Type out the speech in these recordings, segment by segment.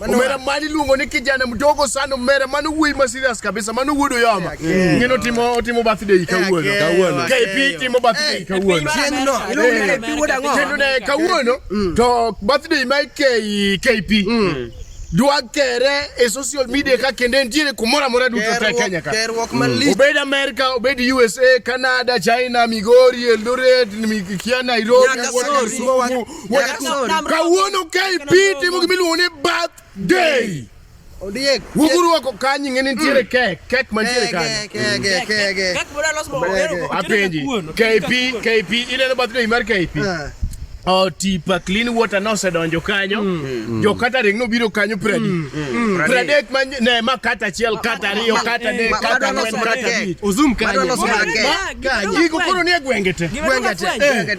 Omera mani luongo ni kijana mdogo sana omera mano wuoyi ma serious kabisa mano wuod oyoma ng'eno otimo otimo birthday kawuono kawuono KP timo birthday kawuono kendo ne kawuono mm. to birthday ma ikei KP mm. dwa kere e social media ka kende ntiere kumoro amora duto te Kenya ka mm. obed America obed USA Canada China Migori Eldoret Mikia Nairobi kawuono ka ipiti mo gimiluongo ni birthday wuguru wako kanyi ng'e nitiere mm. kek kek mantiere kanyoapenji kp kp ineno birthday mar kp ah. Oh, tipa clean water nosedonjo kanyo mm. mm. jo catering nobiro kanyo pradi mm. mm. pradek ma ne ma kata achiel kata ariyo kata ne kata ne kata bich ozum kanyo kanyo iko koro ni e gwenge te gwenge te eh.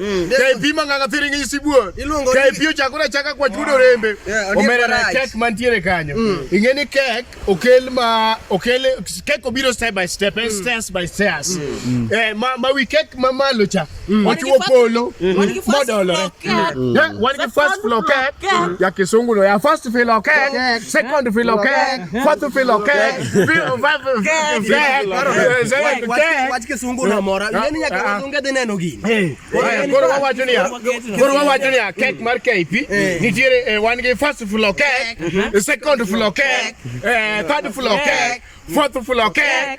Mm. Kai pima nganga thiringi isibuo. Kai pio chakula chaka kwa chudo rembe. Omera na kek mantiere kanyo. Mm. Ingeni kek okel ma okel kek obiro step by step, eh, mm. stairs by stairs. Eh ma ma wi kek ma malo cha. Ochuo polo. Modolo. Wan ki first floor kek. Ya kisungu no ya first floor kek, second floor kek. What you feel okay? Feel what you feel okay? Wach- Wach kisungu unamora. Nani nyaka wazunge dhi neno gini? Aya, Koro wawacho niya, koro wawacho niya, kek mar KP nitiere eh, wan gi first floor kek, second floor kek, eh, third floor kek, fourth floor kek,